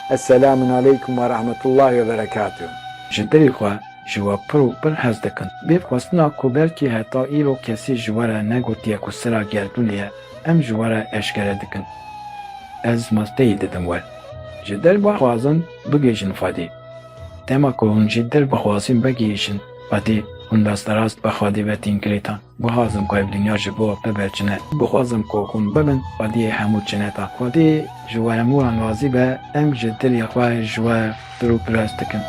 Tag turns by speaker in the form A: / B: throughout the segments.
A: Eselamun aleykum ve rahmetullahi ve berekatuh. Ji dilê xwe
B: ji we pir û pir hez dikim. Bê xwestina ku belkî heta îro kesî ji we re negotiye ku sira gerdûnê ye, em ji we re eşkere dikin. Ez masteyê didim we. Ji dil bixwazin bigihîjin Xwedê. Dema ku hûn ji dil bixwazin vegihîjin Xwedê, hûn rasterast bi Xwedê ve tên girêdan. Guhazim ku ev dinya ji bo bibe çine. Guhazim ku hûn bibin xwediyê hemû çineta. Xwedî ji we hemû an razî be, em ji dilê xwe ji we pir û pirs dikin.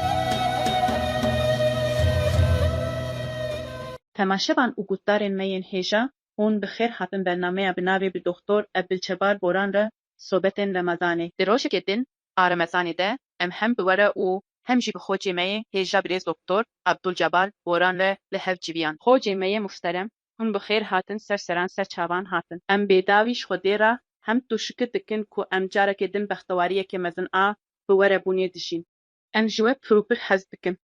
C: Temaşevan û gotdarên me yên hêja, hûn bi xêr hatin bernameya bi navê Bi Doxtor Ebdilçebar Boran re sobetên Remezanê. Di rojekê din a remezanê de em hem bi we re û hem jî bi xocê me yê hêja birêz Doktor Abdul Cebar Boran re li hev civiyan. Xocê me yê muhterem, hûn bi xêr hatin ser seran ser çavan hatin. Em bêdawî ji Xwedê re hemd û şikir dikin ku em carekê din bextewariyekê mezin a bi we re bûnê dijîn. Em ji we pir û pir hez dikin.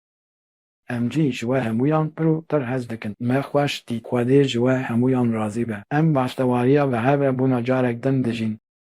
C: Em
B: jî ji we hemûyan pir û pir hez dikin. Me xweş dît. Xwedê ji we hemûyan razî be. Em bextewariya bi hev re bûna carek din dijîn.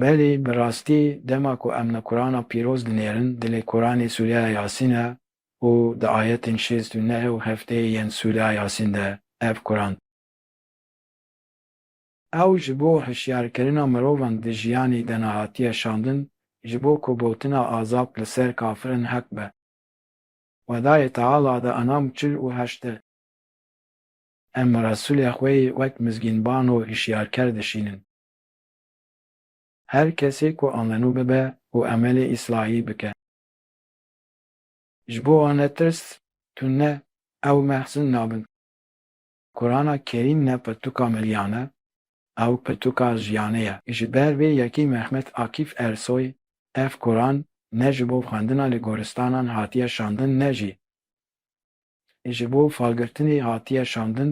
C: Belê, bi
B: rastî dema ku em li Qurana pîroz dinêrin, dilê Quranê Sûreya Yasîn e û di ayetên şêst û neh û hefteyê yên Sûreya Yasîn de ev Quran. Ew ji bo hişyarkirina mirovan di jiyanê de ne hatiye şandin, ji bo ku gotina azad li ser kafirin heq be. Xwedayê Teala di Enam çil û heşt de, Em Resûlê xwe yê wek mizgînban û hişyarker dişînin. Her kesê ku amenû bibe û emelê îslahî bike. Ji bo wan ne tirs, tûn ne, ew mehsin nabin. Kurana Kerîm ne pirtûka milîyan e, ew pirtûka jiyanê ye. Ji ber vê yekî Mehmet Akîf Ersoy ev Kuran ne ji bo xwendina li goristanan hatiye şandin ne jî Ji bo falgirtinê hatiye şandin,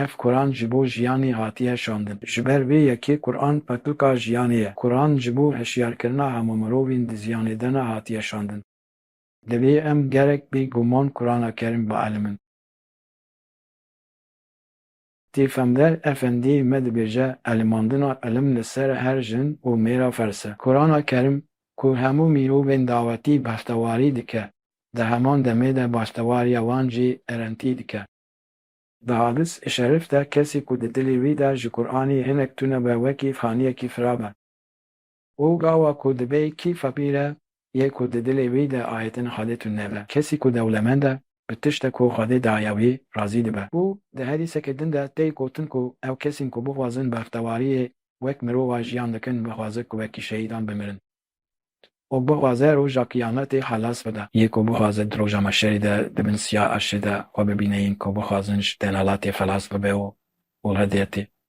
B: ev Quran ji bo jiyanê hatiye şandin. Ji ber vê yekê Quran petlka jiyanê ye. Quran ji bo hişyarkirina hemû mirovên di ziyanê de ne hatiye şandin. Divê em gerek bê guman Qurana Kerim bielmin. Tîfemder Efendî me dibêje elimandina ilim li ser her jin û mêra ferz e. Kurana Kerîm ku hemû mîrovên dawetî behtewarî dike, di heman demê de bahtewariya wan jî erentî dike. Di hadis i şerif de kesî ku di dilê wî de ji Kuranî hinek tune be wekî faniyekî firav e. Û gawa ku dibê kîfa bî re yê ku di dilê wî de ayê din Xwedê tune be. Kesî ku dewlemend e, bi tişte ku Xwedê daye wî razî dibe. Û di herîsekê din de tê gotin ku ew kesên ku bixwazin bextewariyê wek mirova jiyan dikin bixwaze ku wekî şehîdan bimirin. Û bixwaze roja qiyametê xelas bide. Yê ku bixwaze di roja meşerê de di bin siya erşê de xwe bibîne yên ku bixwazin ji denalatê xelas bibe û û redê tê.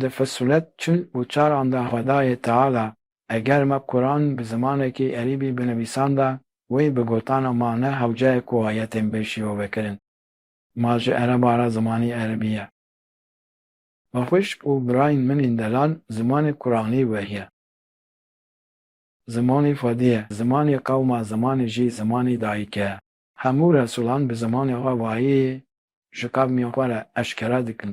B: Di Fusulet çil û çar an de Xwedayê Teala eger me Quran bi zimanekî Erîbî binivîsanda wê bi gotana ma ne hewceyê ku ayetên bê şîrove kirin. Ma ji ereba re zimanî Erîbî ye. Ma xwişk û birayên min ên delal zimanê Quranî weriye. Zimanê Xwedî ye, zimanê qewma zimanê jî zimanê dayîkê ye. Hemû resulan bi zimanê xwe wayeyê ji qevmên xwe re eşkera dikin.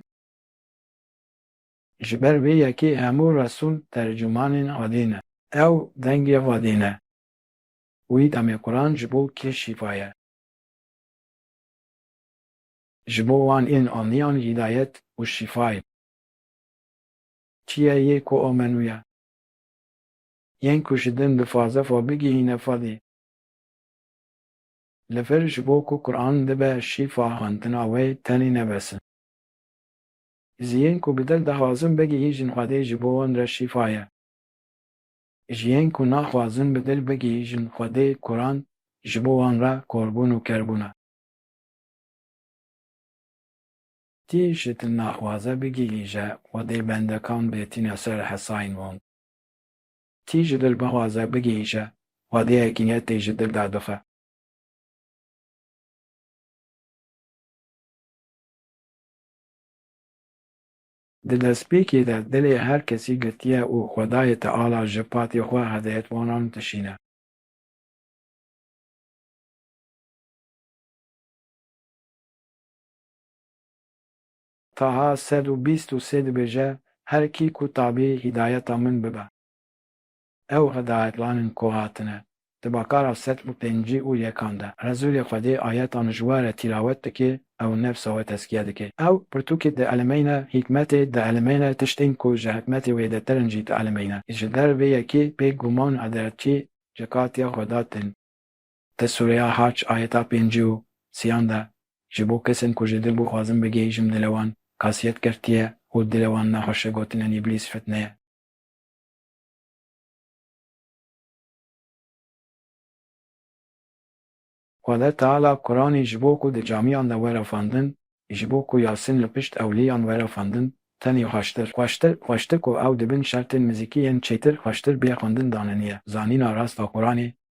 B: Ji ber vê yekê hemû Resûl tercûmanên adî ne. Ew dengê vadî ne. Wî demê Quran ji bo kê şîfa ye. Ji bo wan ên aniyan hîdayet û şîfa ye. Çi ye yê ku amenûye. Yên ku ji din bi faze fa bigihîne fadî. Li vir ji bo ku Quran dibe şîfa hantina wê tenê nebesin. Ji yên ku bi dil dixwazin bigihîjin Xwedê ji bo wan re şîfa ye. Ji yên ku naxwazin bi dil bigihîjin Xwedê Kuran ji bo wan re korbûn û kerbûn e. Kî ji dil naxwaze bigihîje Xwedê bendekan bê tîne ser hesayên wan. Kî ji dil bixwaze bigihîje Xwedê hekîmetê ji dil derbixe. Di destpêkê de dilê her kesî girtiye û xwedayê Teala ji patê xwe hedeyetwanan dişîne. Taha sed û bîst û sê dibêje, Her kî ku tabî hîdayeta min bibe. Ew hedayetlanên ku hatine di bakara sed û pêncî û yekan de, Rezûlê Xwedê ayetan ji we re tîlawet dike, ew nefsa we tezkiye dike. Ew pirtûkê dielemeyne, hîkmetê dielemeyne, tiştên ku ji hikmetê wêdetir in jî dielemeyne. Ji der vê yekê bê guman hederçî ji katiya Xweda tên. Di sûreya Hac ayeta pêncî û siyan de ji bo kesên ku ji dil bixwazin bigihîjim dile wan kasiyet girtiye û dile wan nexweşe gotin in îblîs fitneye. Xweda Teala Quranî ji bo ku di camîyan de were xwendin, ji bo ku Yasîn li pişt ewlîyan were xwendin tenê xweştir, xweştir, xweştir ku ew di bin şertên mizîkî yên çêtir xweştir bê xwendin daneniye zanîna rast a Quranê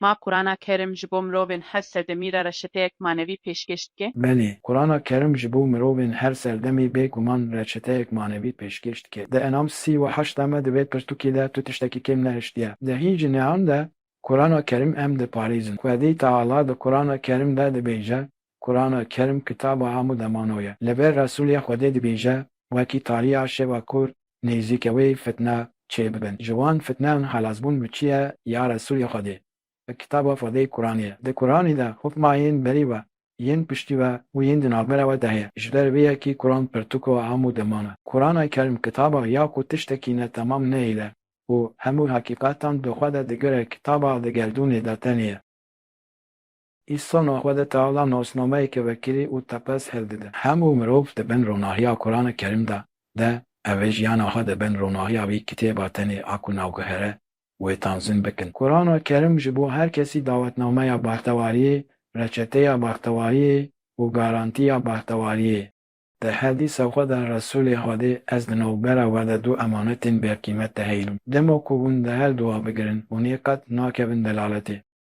C: Ma Qurana Kerim ji bo mirovên her serdemî re reçeteyek manevî pêşkêş dike? Belê. Qurana Kerim
B: ji bo mirovên her serdemî bê guman reçeteyek manevî pêşkêş dike. Di Enam sî û heşt de me di vê pirtûkê de tu tiştekî kêm nehiştiye. Di hîn jinehan de Qurana Kerim em diparêzin. Xwedî Teala di Qurana Kerim de dibêje, Kurana Kerm kitaba hemû demano ye. Li vir Resûlê Xwedê dibêje, Wekî tariya şeva ku nêzîke wê fitne çê bibin. Ji wan fitneyan xelasbûn bi çi ye ya Resûlê Xwedê? Bi kitaba Xwedê Kuranê ye. Di Kuranê de hûkma yên berî we, yên piştî we û yên di navbera we de heye. Ji ber vê yekî Kuran pirtûka hemû deman e. Kurana Kerm kitaba ya ku tiştekî ne temam nehêle û hemû heqîqetan bi xwe de digire kitaba di gerdûnê de tenê ye. Îsa navxwede Teala nasnameyeke vekirî û tepez hêl dide. Hemû mirov di bin ronahiya Kurana Kerîm de de evê jiyana xwe di bin ronahiya vî kitêba tenê a ku navguhere wê tanzîm bikin. Kurana Kerîm ji bo her kesî dawetnameya baxtewariyê, reçeteya baxtewariyê û garantiya baxtewariyê. Di hedîsa xwe de Resûlê Xwedê Ez di navbera we de du emanetên bêqîmet dihêlûm. Dema ku hûn di her du a bigirin, hûn ê qet nakevin delaletê.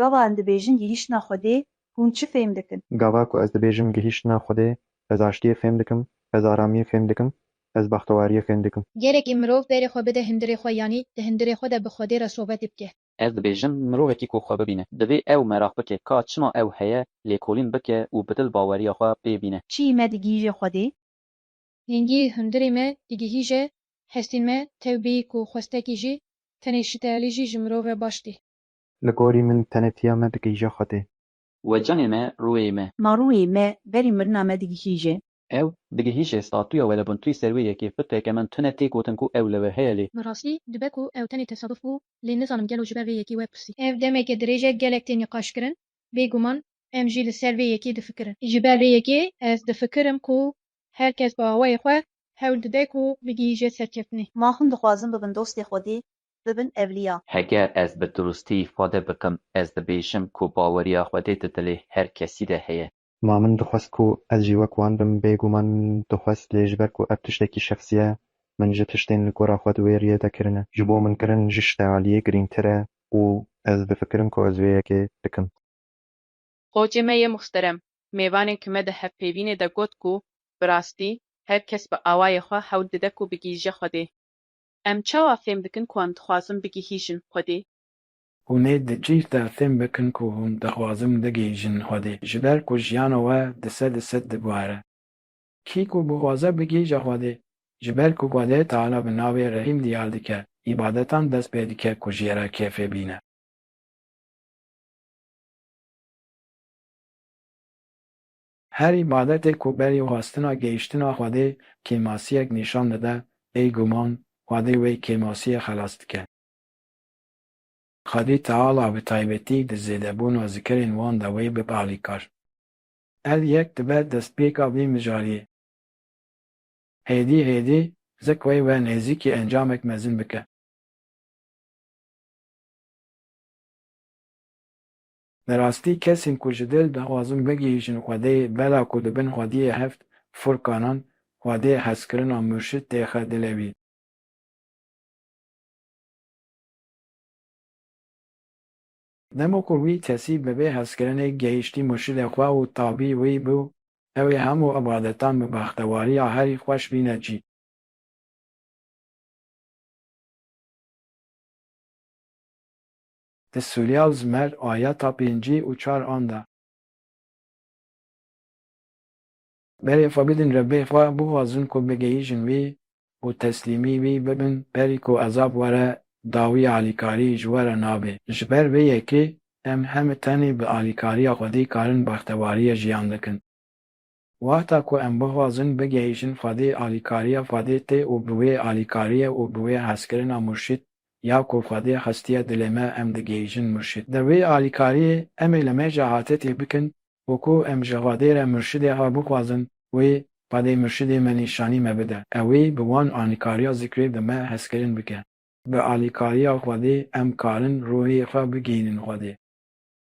D: Gava em dibêjin gihîştina Xwedê, hûn çi fêm dikin? Gava ku ez dibêjim
E: gihîştina Xwedê, ez aştiyê fêm dikim, ez aramiyê fêm dikim, ez bextewariyê fêm dikim. Gerekî mirov berê xwe
F: bide hundirê xwe yanî di hundirê xwe de bi Xwedê re sobetê bike. Ez dibêjim
G: mirovekî ku xwe bibîne, divê ew meraq bike ka çima ew heye, lêkolîn bike û bi dil baweriya xwe pê bîne. Çiyê me digihîje
D: Xwedê. Hingî
F: hundirê me digihîje hestên me tew bî ku xwestekî jî tenê şitelî jî ji mirov re baş tê. Li gorî min
E: tenêtiya me digihîje Xwedê. We canê me
G: rûyê me. Ma rûyê me berî
D: mirina me digihîje. Ew digihîje
G: statuya we li bin tuyê ser wê yekê fitreke min tune tê gotin ku ew li we heye lê. Bi rastî dibe ku
F: ew tenê tesaduf bû lê nizanim gelo ji ber vê yekê we pirsî. Ev demeke dirêj e gelek tê nîqaşkirin bê guman em jî li ser vê yekê difikirin. Ji ber vê yekê ez difikirim ku her kes bi awayê xwe hewl dide ku bigihîje serkeftinê. Ma hûn dixwazin
D: bibin dostê Xwedê bibin evliya. Heger ez bi
G: durustî îfade bikim, ez dibêjim ku baweriya Xwedê di dilê her kesî de heye. Ma min dixwest ku
E: ez jî wek wan bim, bêguman dixwest lê ji ber ku ev tiştekî şexsî ye, min ji tiştên li gora xwe di wê riyê de kirine. Ji bo min kirin ji ştê aliyê girîngtir e û ez difikirim ku ez vê yekê bikim.
C: Xocê me yê muhterem, mêvanên ki me di hevpeyvînê de got ku, bi rastî, her kes bi awayê xwe hewl dide ku bigihîje Xwedê. Em çawa fêm dikin ku em dixwazin bigihîjin Xwedê? Hûn ê
B: di cih de fêm bikin ku hûn dixwazin bigihîjin Xwedê, ji ber ku jiyana we di sed di sed diguhere. Kî ku bixwaze bigihîje Xwedê, ji ber ku Xwedê Teala bi navê Rehîm diyar dike, îbadetan dest pê dike ku jê re kêfê bîne. Her îbadetê ku berî xwestina gehîştina Xwedê kêmasiyek nîşan dide, bê guman Xwedê wê kêmasiyê xelas dike. Xwedî Teala bi taybetî di zêdebûna zikirên wan de wê bibe alîkar. Ev yek dibe destpêka vî mijariyê. Hêdî hêdî zik wê we nêzîkî encamek mezin bike. Bi rastî kesên ku ji dil dixwazin bigihîjin Xwedê bela ku di bin xwediyê heft furkanan, xwedê, hezkirina murşid tê xe dilê wî. Dema ku wî kesî bi vê hezkirinê gihîştî murşidê xwe û tabî wî bû, ew ê hemû ibadetan bi bextewariya herî xweş bîne cî. Di Sûrya û Zmer ayeta pêncî û çar an de. Berê xwe bidin Rebbê xwe, bixwazin ku bigihîjin wî û teslîmî wî bibin berî ku ezab were dawî alîkarî ji we re nabê. Ji ber vê yekê em heme tenê bi alîkariya Xwedî karin bextewariyê jiyan dikin. Wexta ku em bixwazin bigihîjin xwedî alîkariya xwedî tê û bi wê alîkariyê û bi wê hezkirina murşîd ya ku xwedî xistiye dilê me em digihîjin murşîd. Di wê alîkariyê em ê li me jî atetê bikin û ku em ji xwedê re murşidê xwe bixwazin wê xwedê murşidê me nîşanî me bide ew ê bi wan alîkariya zikrê bi me hezkirin bike. Bi alîkariya xwedê em karin ruhê xwe bigihînin xwedê.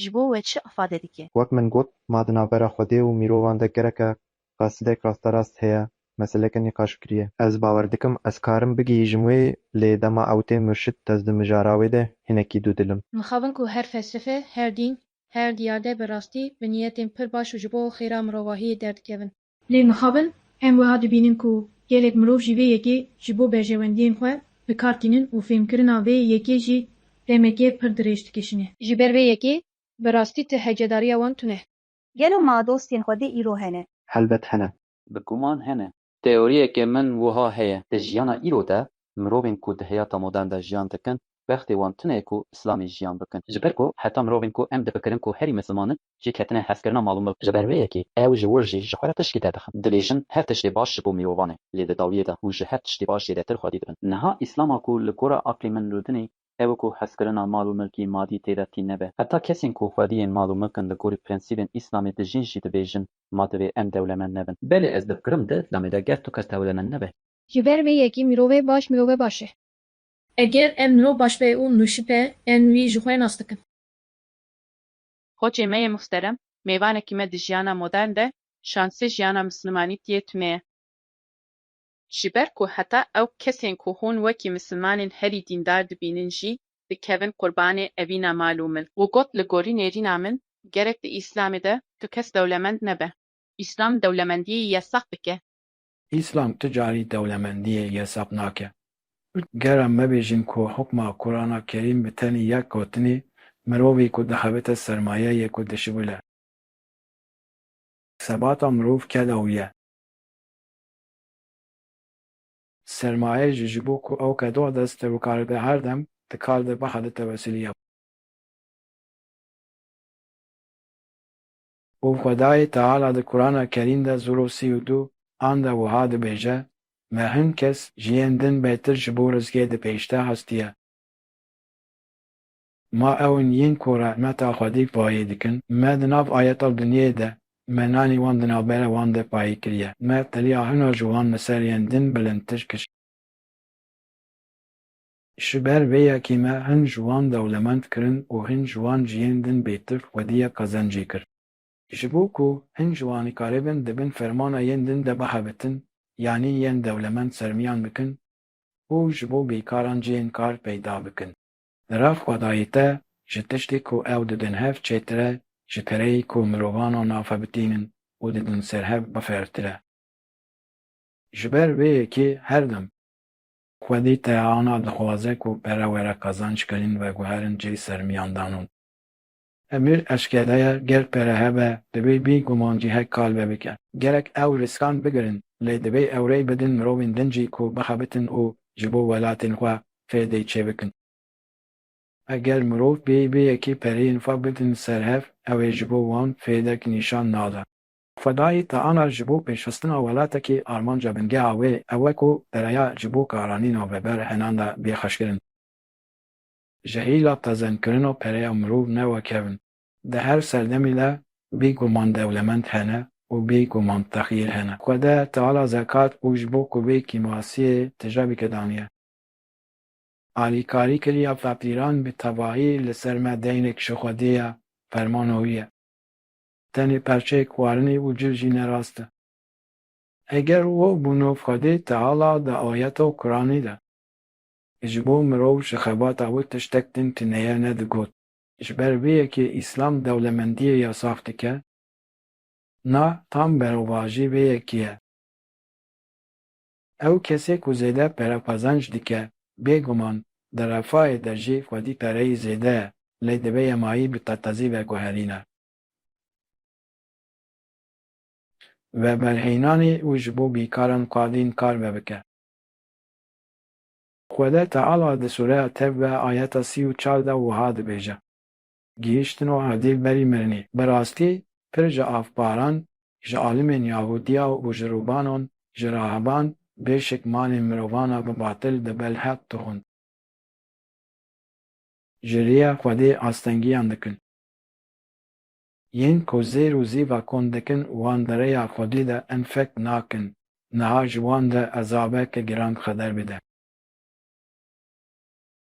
D: ji bo we çi ifade dike? Wek min got, ma di
E: navbera Xwedê û mirovan de gereke qasidek rasterast heye meseleke nîqaş kiriye. Ez bawer dikim ez karim bigihîjim wê lê dema ew tê murşid ez di mijara wê de hinekî dûdil im. Mixabin ku her
F: felsefe, her dîn, her diyarde bi rastî, bi niyetên pir baş û ji bo xêra mirovahiyê derdikevin. Lê mixabin em wiha dibînin ku gelek mirov jî vê yekê ji bo berjewendiyên xwe bi kar tînin û fêmkirina vê yekê jî demeke pir dirêj dikişîne. Ji ber vê yekê bi rastî ti hecedariya wan tune ye. Gelo ma
D: dostên xwe dê îro hene? Helbet hene.
E: Bi guman hene.
G: Teoriyeke min wiha heye. Di jiyana îro de mirovên ku di heyata modern de jiyan dikin bextê wan tune ye ku îslamê jiyan bikin. Ji ber ku heta mirovên ku em difikirin ku herî misliman in jê ketine hevkirina mal û milk. Ji ber vê yekê ew ji wir jî ji xwe re tiştî derdixin. Dibêjin her tiştê baş ji bo mirovan e, lê di dawiyê de hûn ji her tiştê baş zêdetir xwedî dibin. Niha îslama ku li gora aqlê min rûdin ê, ew e ku hevkirina mal û milkî madî tê de tîn nebe. Heta kesên ku xwediyên mal û milk in li gorî prensîbên îslamê dijîn jî dibêjin ma divê em dewlemend nebin. Belê ez difikirim di îslamê de ger tu kes dewlemend nebe. Ji ber vê yekê
F: mirove baş mirove baş e. Eger ev mirov baş be û nûşî be, em wî ji xwe nas dikin.
C: Koçê me yê muhterem, mêvanekî me di jiyana modern de, şansê jiyana misilmanî tiyê tune ye. Ji ber ku heta ew kesên ku hûn wekî misilmanên herî dîndar dibînin jî dikevin qurbanê evîna mal û milk. Wî got, Li gorî nêrîna min, gerek di Îslamê de tu kes dewlemend nebe. Îslam dewlemendiyê yesaq dike. Îslam tu
B: carî dewlemendiyê yesab nake. Gera me bêjin ku hukma Kurana Kerîm bi tenê yek gotinê, Mirovî ku dixebite sermaye ye ku dişibile. Sebata mirov keda wî ye. Sermaye jî ji bo ku ew kedo dest te bikaribe her dem di kar de bixebite wesiliya. Û Xwedayê Teala di Kurana Kerîm de zoro sî û du an de wiha dibêje, Me hin kes ji yên din bêtir ji bo rizgê di pêşde hestiye. Ma ew in yên ku rehmeta Xwedî payê dikin. Me di nav ayeta dinyê de Me nanî wan di navbera wan de payê kiriye. Me teliya hina ji wan li ser yên din bilindtir kir. Ji ber vê yekê me hin ji wan dewlemend kirin û hin ji wan cihên din bêtif xwediyek qezencê kir. Ji bo ku hin ji wan nikaribin di bin fermana yên din de bixebitin yanî yên dewlemend sermiyan bikin û ji bo bêkaran cihên kar peyda bikin. Li ra xwedayê te ji tiştê ku ew didin hev çêtir e ji kereyê ku mirovan a nafe bitînin û didin ser hev bifertir e. Ji ber vê yekê her dem. Xwedî Tehana dixwaze ku pere were qazanc kirîn veguherin cihê sermîyandanan. Emîr eşkereye ger pere hebe divê bî guman cihek kal ve bike. Gerek ew riskan bigirin lê divê ew rê bidin mirovên din jî ku bixebitin û ji bo welatên xwe fêdê çêbikin. Eger mirov bêyî bê yekê pereyên xwe bidin ser hev ew ê ji bo wan fêdek nîşan nada. Xwedayî taana ji bo pêşxistina welatekî armanca bingeha wê ew e ku pereya ji bo karanî navber henan de bê xweşkirin. Ji hêla pezenkirina pereya mirov ne wekevin. Di her serdemî de bê guman dewlemend hene û bê guman texîr hene. Xwede taala zekat û ji bo kuvê kîmasiyê tije bike daniye. Alîkarî kiriya feqîran bi tevahî li ser me deynêk ji Xwedê ye, fermana wî ye. tenê perçeyek warinê û cil jî ne rast e. Eger wo bûno Xwedê Teala di ayeto Kuranî de ji bo mirov ji xebata wê tiştek din tuneye ne digot. Ji ber vê yekê Îslam dewlemendiyê yasax dike. Na tam berovajî vê yekê ye. Ew kesê ku zêde perexwazanc dike, bêguman di refahê de jî xwedî pereyî zêde ye, lê divê yemayî bi qetezî veguherîne. Veberhênanî û ji bo bîkaran qadîn kar vebike. Xwede Teala di sûreya Tevbe ayeta sî û çar de wiha dibêje. Gihîştin û erdî berî mirinî. Bi rastî pir ji avparan, ji alimên yahûdiya û ji rûbanon, ji rahiban bê şik malên mirovana bi batil di belheq dixwin. Ji rîya Xwedê astengîyan dikin. Yên ku zêr û zîva kon dikin wan di rêya Xwedê de enfek nakin. Niha ji wan de ezabeke giran xeder bide.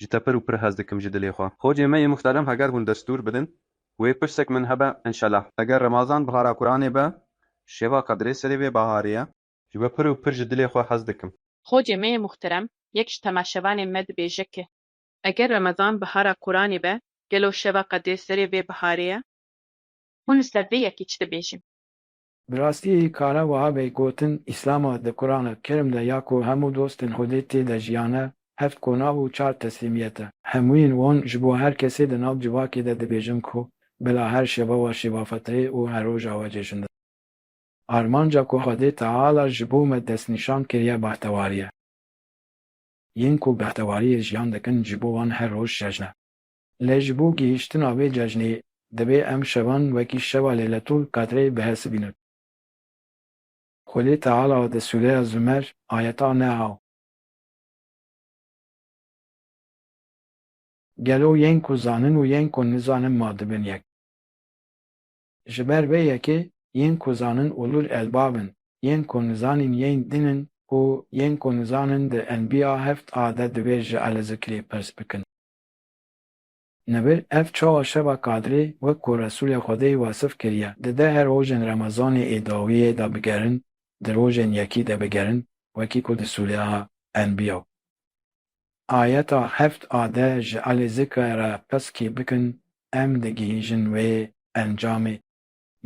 G: Ji te pir û pir hez dikim ji dilê xwe. Xocê me yê muhterem heger hûn destûr bidin wê pirsek min hebe inşela. Eger remazan bihara Quranê be şeva qedrê serê vê baharê ye. Ji we pir û pir ji dilê xwe hez dikim. Xocê me yê muhterem
C: yek ji temaşevanên me dibêje ke. Eger remazan bihara Quranê be gelo şeva qedrê serê vê baharê ye. Hûn li ser vê yekî çi dibêjin. Bi rastî
B: kare wiha bê gotin, Îslama di Qurana Kerîm de ya ku hemû dostên Xwedê tê de jiyane, heft konav û çar teslîmiyet e. Hemûyên wan ji bo her kesê di nav civakê de dibêjin ku bila her şeva wa şeva fetrê û her roja wa cejn dibe. Armanca ku Xwedê Teala ji bo me destnîşan kiriye behtewarî ye. Yên ku behtewarîyê jiyan dikin ji bo wan her roj cejn e. Lê ji bo gihîştina vê cejnê divê em şevan wekî şeva Leyletol Qedrê bihesibînin. Xwedê Teala di sûreya Zûmer ayeta Neha. Gelo yên ku zanin û yên ku nizanin ma dibin yek? Ji ber vê yekê yên ku zanin ulul elbab in, yên ku nizanîn yên din in û yên ku nizanin di Enbiya heft a de divê ji Elezikirê pirs bikin. Nebe ev çawa şeva Kadrê wek ku Resûlê Xwedê wesif kiriye, dide her rojên Remezanê ê dawiyê de bigerin, di rojên yekî de bigerin wekî ku di sûreya Enbiya, ayeta heft a de ji alî zikre re piskî bikin, em digihîjin wê encamê.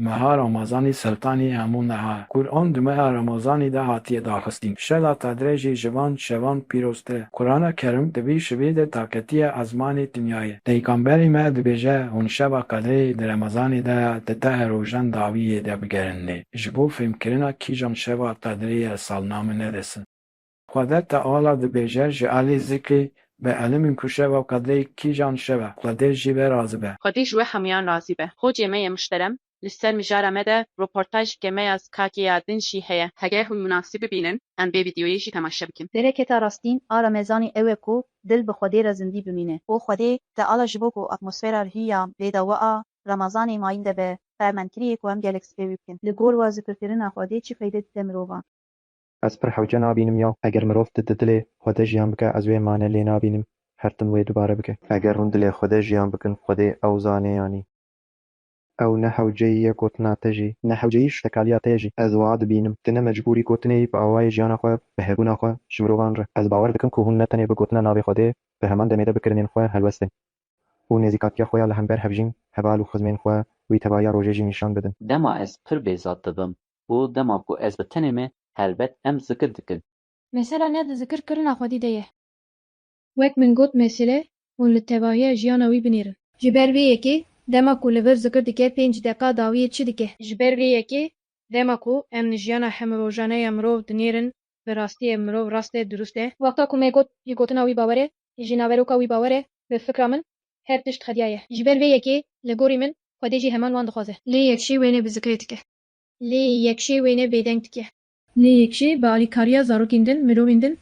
B: Meha Ramazanî Seltanî hemû meha ye. Quran di meha Ramazanî de hatiye daxistin. Şeva Qedrê jî ji van şevan pîroztir e. Qurana Kerim di vî şivî de taketiye ezmanê dinyayê. Peygamberî me dibêje, Hûn şeva Qedrê di Remezanê de ya, di tehê rojan dawî yê de bigerin lê, ji bo fêmkirina kîjan şeva Qedrê ye salname nedesin. Qedê Teala dibêje, ji alî zikê be elimîn ku şeva qedê kîjan şev e, qedê jî be razî be. Xwedî ji we hemûyan
C: razî be. Xocê me ye muşterem, li ser mijara me de roportaj dike me ya skakê ya din jî heye. Heger hûn munasîb bibînin em vê vîdeoyê jî temaşe bikin. Bereketa rastîn a
D: remezanî ew e ku dil bi Xwedê re zindî bimîne. Û Xwedê Teala ji bo ku atmosfera li hîya vê dawa a remezanê mayîn de be, ferman kiriye ku em gelek sipê wî bikin. Li gor we zikirkirina Xwedê çi feyde dide mirovan? Ez pir
E: hewce nabînim ya eger mirov di dilê Xwedê jiyan bike ez wê mane lê nabînim her tim wê dubare bike. Eger hûn dilê Xwedê jiyan bikin Xwedê ew zanê yanî ew ne hewceyî ye gotina te jî, ne hewceyî ştekaliya te ye jî ez wiha dibînim tu ne mecbûrî gotinê yî bi awayê jiyana xwe bi hebûna xwe ji mirovan re. Ez bawer dikim ku hûn ne tenê bi gotina navê Xwedê di heman demê de bi kirinên xwe helwest in û nêzîkatiya xwe ya li hember hevjîn, heval û xizmên xwe wî tevaya rojê jî nîşan bidin. Dema ez pir bêzat
G: dibim û dema ku ez bi tenê me helbet em zikir dikin. Mesela ne di
F: zikir kirina Xwedî de ye. Wek min got mesele hûn li tevahiya jiyana wî binêrin. Ji ber vê yekê dema ku li vir zikir dike pênc deqa dawiyê çi dike? Ji ber vê yekê dema ku em li jiyana hemrojane ya mirov dinêrin bi rastiyê mirov rast e dirust e. Wexta ku me got ji gotina wî bawer e ji naveroka wî bawer e bi fikra min her tişt xediyaye. Ji ber vê yekê li gorî min Xwedê jî heman wan dixwaze. Lê yek jî wênê bi zikirê dike. Lê yekşê wêne bêdeng dike. Lê yekşê bi alîkariya zarokên din, mirovên din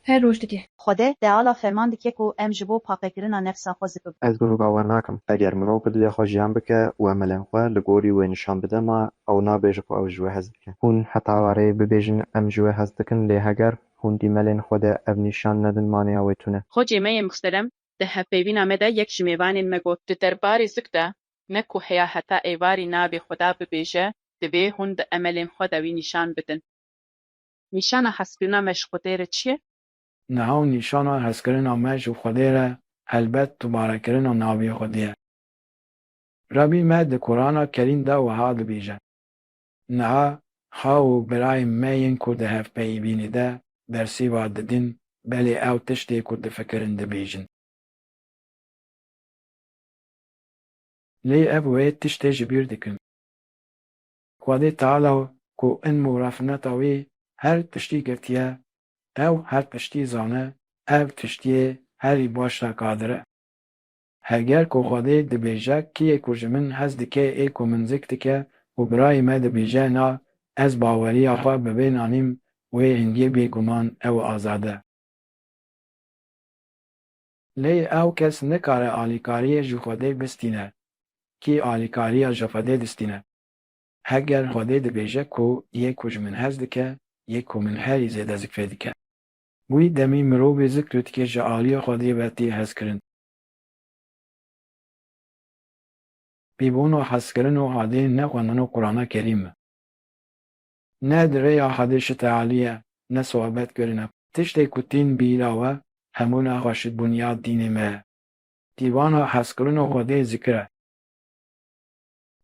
F: her roj dike. Xwede teala
D: ferman dike ku em ji bo paqekirina nefsa xwe zipiv. Ez bi roga we nakim.
E: Eger mirov bi dilê xwe jiyan bike û emelên xwe li gorî wê nişan bide ma ew nabêje ku ew ji wê hez dike. Hûn heta wareyê bibêjin em ji wê hez dikin lê heger hûn dîmelên xwe de ev nîşan nedin maneya wê tune. Xwecê me yê mixterem
C: di hevpeyvîna me de yek ji mêvanên me got. Di derbarê zik de ne ku heya heta êvarî navê xwe da bibêje, divê hûn bi emelên xwe de wî nîşan bidin. Nîşana hezkirina me ji Xwedê re çi ye? Niha û
B: nîşana hezkirina me ji Xwedê re helbet dubarekirina navê Xwedê ye. Rebî me di Kurana Kerîm de wiha dibêje, Niha xaw û birayên me yên ku di hevpeyivînê de bersiva didin, belê ew tiştê ku difikirin dibêjin. Lê ev wê tiştê ji bîr dikin. Xwedê Teala ku ilm û refineta wî her tiştî girtiye, ew her tiştî zane, ev tiştiyê herî baş re qadir e. Heger ku Xwedê dibêje kî yê ku ji min hez dike ê ku min zik dike û birayê me dibêje na ez baweriya xwe bi vê nanîm wê hingê bêguman ew azad e. Lê ew kes nikare alîkariyê ji Xwedê bistîne. Kî alîkariya ji Xwedê distîne? Heger Xwedê dibêje ku yê ku ji min hez dike, yê ku min herî zêde zikrê dike. Wî demî mirovê zikr û tikê ji aliyê Xwedê ve tê hezkirin. Pîvûna hezkirin û adê ne xwendina Qurana Kerîm e. Ne di rêya Hadê şite alîye, ne soebet kirine. Tiştê ku tîn bîra we, hemû naxa şit bunyad dînê me ye. Dîwana Hezkirina Xwedê zikir e.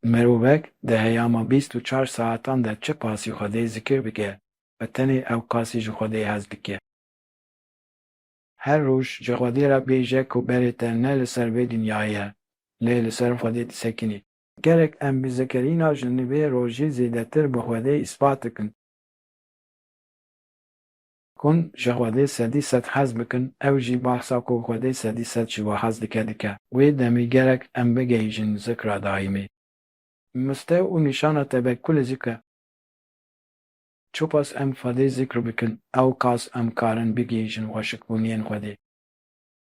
B: Mirovek di heyama bîst û çar saetan de çi qasî Xwedê zikir bike ve tenê ew qasî ji Xwedê hez dike. Her roj ji Xwedê re bêje ku berê te ne li ser vê dinyayê ye, lê li ser Xwedê disekinî. Gerek em mizekerîna ji nivê rojî zêdetir bi Xwedê îspat bikin. Hûn ji Xwedê sedî sed hez bikin, ew jî bahsa ku Xwedê sedî sed ji we hez dike dike. Wê demê gerek em bigihîjin zikra daîmê. Mistew û nîşana tevekkulê zik e. Çiqas em Xwedê zikr bikin, ewqas em karin bigihîjin xweşikbûniyên Xwedê.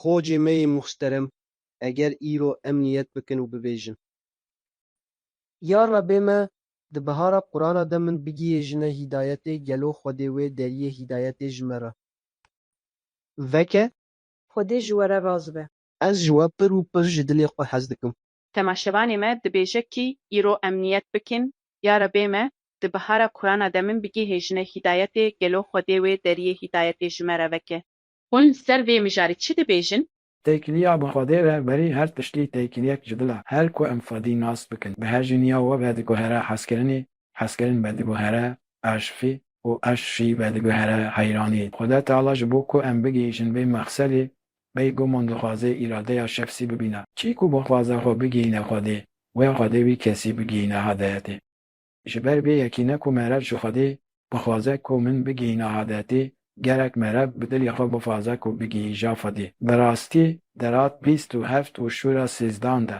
H: Xocê me yê muxsterem eger îro em niyet bikin û bibêjin. Ya Rebê me di bihara Qurana de min bigihêjine hîdayetê gelo Xwedê wê deriyê hîdayetê ji me re veke. Xwedê
D: ji we re raz be. Ez ji we pir û
H: pir ji dilê xwe hez dikim. Temaşevanê me
C: dibêje kî îro em niyet bikin, Ya Rebê me di bihara Qurana de min bigihêjine hîdayetê gelo Xwedê wê deriyê hîdayetê ji me re veke. Hûn li ser vê mijarê çi dibêjin? Têkiliya bi
B: Xwedê re werî her tiştî têkiliyek ji dil e. Her ku em Xwedî nas bikin, bi hejîniya we vediguhere hezkirinî, hezkirin vediguhere aşifî û aşifî vediguhere heyranî. Xweda Teala ji bo ku em bigihîjin vê mexselî, beyguman dixwaze îradeya şefsî bibîne. Çî ku bixwaze xwe bigihîne Xwedê, wê Xwedê wî kesî bigihîne hadayetê. Ji ber vê yekî ne ku merev ji Xwedê bixwaze ku min bigihîne hadetê, gerek merev bi dilê xwe bixwaze ku bigihîja Xwedê. Bi rastî derat bîst û heft û şûra sêzdan de.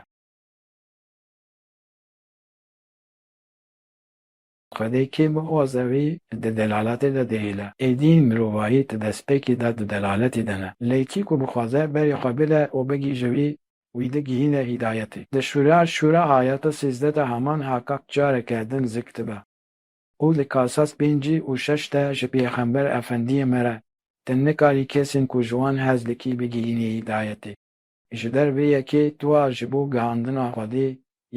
B: Xwedê kê bixwaze wî di delaletê de dihêle. Êdî mirovahî di destpêkê de di delaletê de ne. Lê kî ku bixwaze berê xwe bide û bigihîje wî, wî digihîne hîdayetê. Di şûra şûra ayeta sîzdeh de heman haqaq careke din zik dibe û li kasas pêncî û şeş de ji pêxember efendiyê me re tu nikarî kesên ku ji wan hez dikî bigihînî hîdayetê. Ji ber vê yekê tûa ji bo gihandina Xwedê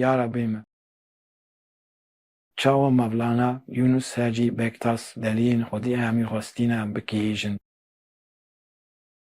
B: ya Rebê min. Çawa Mevlana Yûnûs Hacî Bektas deliyên Xwedê hemî xwestîne bikihêjin?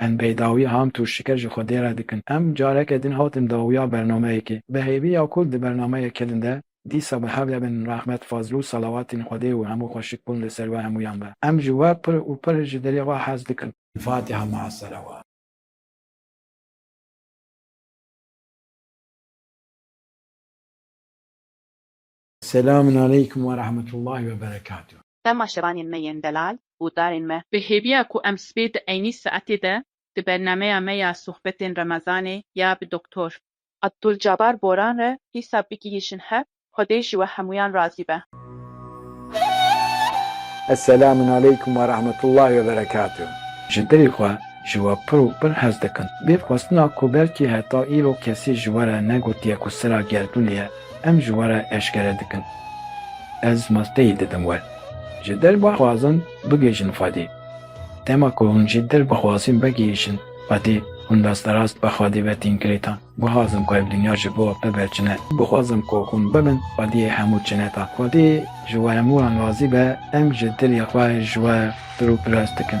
C: Em bê
B: dawiya Ham Tûrşiker ji xwe dêre dikin. Em careke din hatin dawiya bernameyekê. Bi hêvî ya ku di bernameyê kilin de dîsa bi hev de bin rehmet, fazl û salawatên Xwedê û hemû xweşik bûn li ser we hemûyan be. Em ji we pir û pir ji dilê re hez dikin. Fatiha maa salawat. Selamun aleykum ve rahmetullahi ve berekatuh. Dema şevanên me yên
C: delal û darên me. Bi hêviya ku em sibê di eynî saetê de di bernameya me ya sohbetên remezanê ya bi Doktor. Abdulcabar Boran re dîsa bigihîşin hev, Xwedê ji we hemûyan razî be.
A: Selamun aleykum ve rahmetullahi ve berekatuh. Ji dilê xwe
B: ji we pir û pir hez dikim. Vê xwestina ku belkî heta îro kesî ji we re negotiye ku sira gerdûnê ye, Em ji we re eşkere dikin. Ez masteyê didim we. Ji dil bixwazin bigihîjin Xwedê. Dema ku hûn ji dil bixwazin bigihîjin Xwedê, hûn rasterast bi Xwedê ve tîn girêta. Bixwazim ku ev dinya ji bo bibe cine. Bixwazim ku hûn bibin Xwediyê hemû cineta. Xwedê ji we hemû an razî be, em ji dilê xwe ji we pir û pirs dikin.